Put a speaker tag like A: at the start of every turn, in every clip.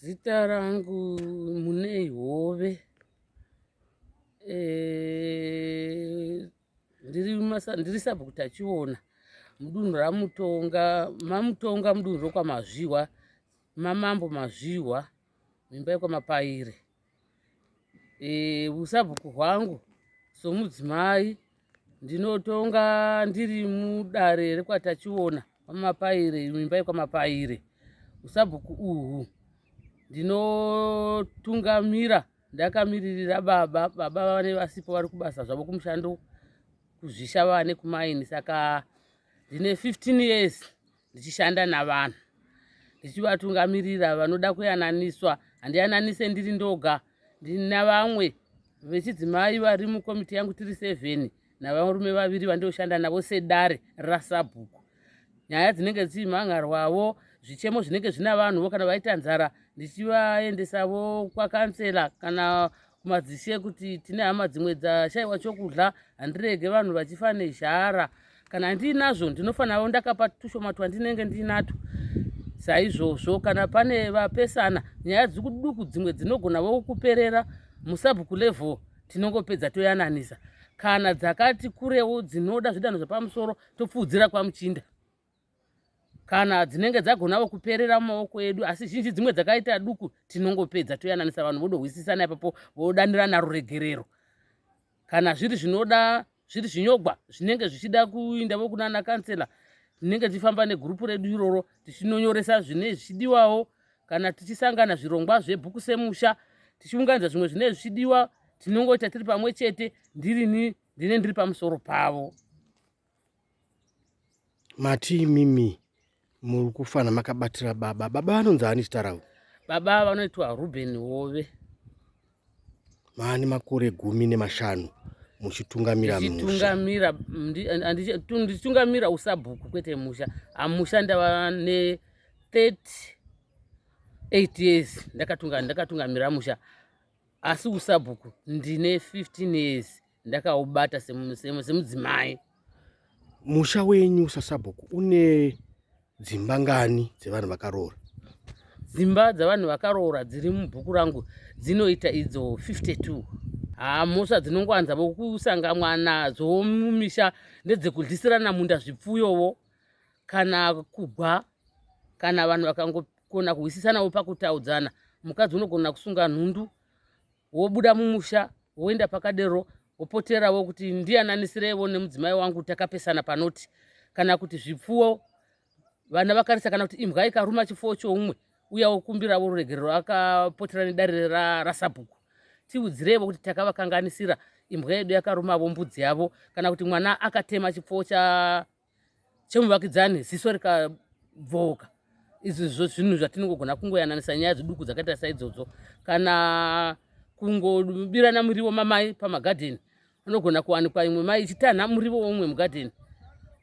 A: Zita rangu Munei Hove. Eh, ndiri masa ndiri sabhuku tachiona mudunhu ramutonga mamutonga mudunhu rokwamazvihwa mamambo mazvihwa mimba yekwamapaire e, usabhuku hwangu somudzimai ndinotonga ndiri mudare rekwatachiona kwamapaire imba yekwamapaire usabhuku uhu ndinotungamira ndakamiririra baba baba vane vasipo vari kubasa zvavo kumushando kuzvisha vane kumaini saka ndine 15 years ndichishanda navanhu ndichivatungamirira vanoda kuyananiswa handiyananise ndiri ndoga ndina vamwe vechidzimai vari mukomiti yangu tiri seven navarume vaviri vandioshanda navo sedare rasabhuku nyaya dzinenge dzichimhangarwavo zvichemo zvinenge zvina vanhuvo kana vaita nzara ndichivaendesavo kwakansela kana kumadzishe ekuti tine hama dzimwe dzashaiwa chokudya handirege vanhu vachifa nezhara kana ndiinazvo ndinofanirawo ndakapa tushoma twandinenge ndiinatwo saizvozvo kana pane vapesana nyaya dzikuduku dzimwe dzinogona vokuperera musabhuku level tinongopedza toyananisa kana dzakati kurewo dzinoda zvidanho zvepamusoro topfuudzira kwamuchinda kana dzinenge dzagonawo kuperera mumaoko edu asi zhinji dzimwe dzakaita duku tinongopedza toyananisa vanhu vodohwisisana ipapo vodanirana ruregerero kana zviri zvinoda zviri zvinyogwa zvinenge zvichida kuinda vokunana kansela tinenge tichifamba negurupu redu iroro tichinonyoresa zvine zvichidiwawo kana tichisangana zvirongwa zvebhuku semusha tichiunganidza zvimwe zvine zvichidiwa tinongoita tiri pamwe chete ndirini ndine ndiri pamusoro pavo
B: mati imimi muri kufana makabatira baba baba vanonzi ani chitarawo baba vanoitwa
A: ruben hove
B: maani makore gumi nemashanu muchitungamira mushatungamira
A: ndichitungamira usabhuku kwete musha amusha ndava ne 38 years ndakatungamira musha asi usabhuku ndine 15 years ndakaubata semudzimai
B: musha wenyu sasabhuku une dzimba ngani dzevanhu vakaroora dzimba
A: dzevanhu vakaroora dziri mubhuku rangu dzinoita idzo 52 haa mhosva dzinongowanza vokusangamwa nadzo mumisha ndedzekudlisirana munda zvipfuyovo kana kugwa kana vanhu vakangokona kuhwisisanawo pakutaudzana mukadzi unogona kusunga nhundu wobuda mumusha woenda pakadero wopoterawo kuti ndiyananisireiwo nemudzimai wangu takapesana panoti kana kuti zvipfuwo vana vakarisa kana kuti imbwa ikaruma chipfuwo choumwe uya wokumbirawo ruregerero akapotera nedare rasabhuku tiudzireivo kuti takavakanganisira imbwa yedu yakarumavo mbudzi yavo kana kuti mwana akatema chipfuwo cha chemuvakidzani ziso rikabvooka izvi zvo zvinhu zvatinongogona kungoyananisa nyaya dziduku dzakaita saidzodzo kana kungobirana murivo mamai pamagadheni anogona kuwanikwa imwe mai ichitanha murivo weumwe mugadheni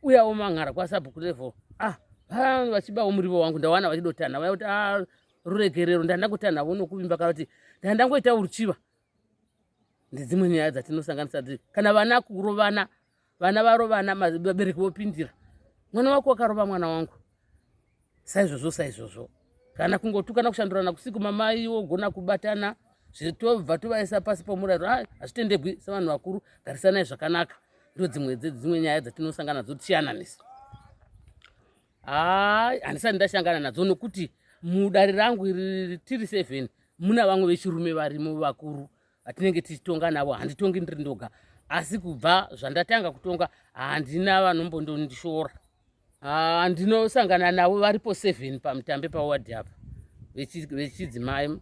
A: uyawo manhara kwasabhuku level ah vanhu vachibawo murivo wangu ndawana vachidotanha vaya kuti ah ruregerero ndandakutanhavo nokuvimba kana kuti ndandangoita uruchiva ndedzimwe nyaya dzatinosanganisa dzi kana vana kurovana vana varovana vabereki vopindira mwana wako wakarova mwana wangu saizvozvo saizvozvo kana kungotukana kushandurana kusiku mamai wogona kubatana zvetobva tovaisa pasi pomurayiro ah, hazvitendegwi sevanhu vakuru garisanai zvakanaka ndo dzimwe dzedzimwe nyaya dzatinosangana nadzo tichiyananisa haa handisati ndashangana nadzo nokuti mudare rangu iri tiri seven muna vamwe vechirume varimo vakuru vatinenge tichitonga navo handitongi ndiri ndoga asi kubva zvandatanga kutonga handina vanombondondishora ah, ndinosangana navo varipo seven pamutambe pawadi apa vechidzimai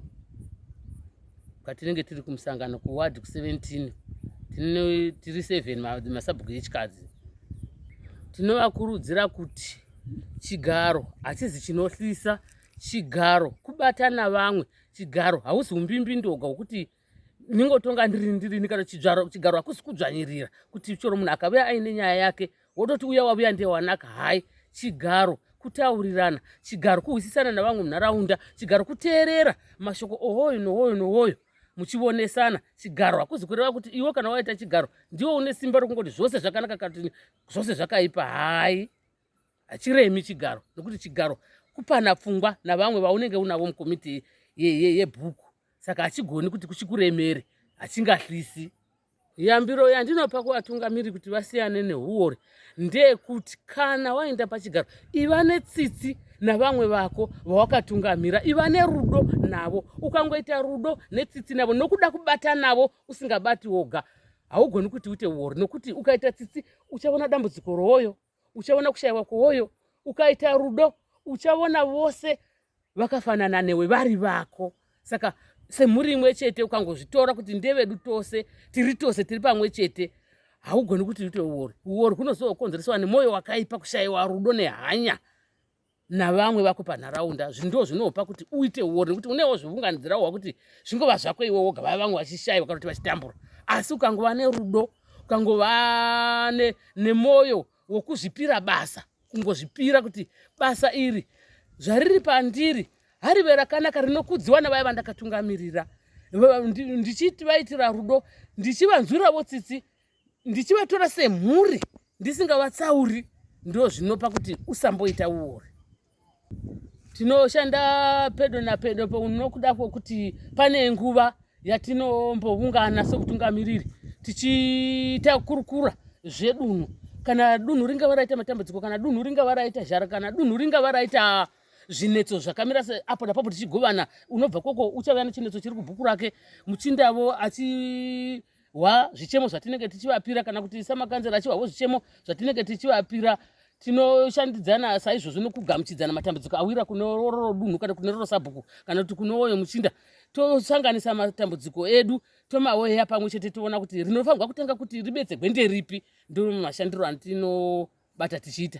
A: patinenge tiri kumusangano kuwadi ku17 tiri seven masabhuku echikadzi tinovakurudzira kuti chigaro hachizi chinohlisa chigaro kubata navamwe chigaro hausi umbimbindoga wekuti ndingotonga ndirini ndirini kana chigaro hakusi kudzvanyirira kuti chero munhu akavuya aine nyaya yake wototi uya wavuya ndewanaka hai chigaro kutaurirana chigaro kuhwisisana navamwe munharaunda chigaro kuteerera mashoko ohoyo nohoyo nohoyo muchionesana chigaro hakuzi kureva kuti iwe kana waita chigaro ndiwe une simba rokungoti zvose zvakanaka kati zvose zvakaipa hai hachiremi chigaro nokuti chigaro kupana pfungwa navamwe vaunenge unavo mukomiti yebhuku saka hachigoni kuti kuchikuremere hachingahlisi Yambiro yandinopa kuvatungamiri kuti vasiyane nehuwori ndeyekuti kana waenda pachigaro iva netsitsi navamwe vako vawakatungamira iva nerudo navo ukangoita rudo netsitsi navo nokuda kubata navo usingabati woga haugoni kuti uite uori nokuti ukaita tsitsi uchaona dambudziko rowoyo uchaona kushaiwa kwowoyo ukaita rudo uchaona vose vakafanana newe vari vako saka semhuri imwe chete ukangozvitora kuti ndevedu tose tiri tose tiri pamwe chete haugoni kuti uite uori uori hunozokonzeresawa nemwoyo wakaipa kushayiwa rudo nehanya navamwe vako panharaunda zvinhu ndo zvinopa kuti uite uori nekuti unewo zvivunganidzira wa kuti zvingova zvako iwe woga vaya vamwe vachishaiwa kana kuti vachitambura asi ukangova nerudo ukangova nemwoyo wokuzvipira basa kungozvipira kuti basa iri zvariri pandiri harive rakanaka rinokudziwa navaya vandakatungamirira ndichiti vaitira rudo ndichivanzwiravo tsitsi ndichivatora semhuri ndisingavatsauri ndo zvinopa kuti usamboita uori tinoshanda pedo napedo paunokuda kwokuti pane nguva yatinomboungana sokutungamiriri tichiita kurukura zvedunhu kana dunhu ringava raita matambudziko kana dunhu ringava raita zhara kana dunhu ringava raita zvinetso zvakamira apo napapo tichigovana unobva koko uchauya nechinetso chiri kubhuku rake muchindavo achi wa zvichemo zvatinenge tichivapira kana kuti samakanzera achiwa wo zvichemo zvatinenge tichivapira tinoshandidzana saizvozvo nokugamuchidzana matambudziko awira kune roro dunhu kana kune roro sabhuku kana kuti kune woyo muchinda tosanganisa matambudziko edu tomaweya pamwe chete toona kuti rinofanirwa kutanga kuti ribetsegwe nderipi ndomashandiro antinobata tichiita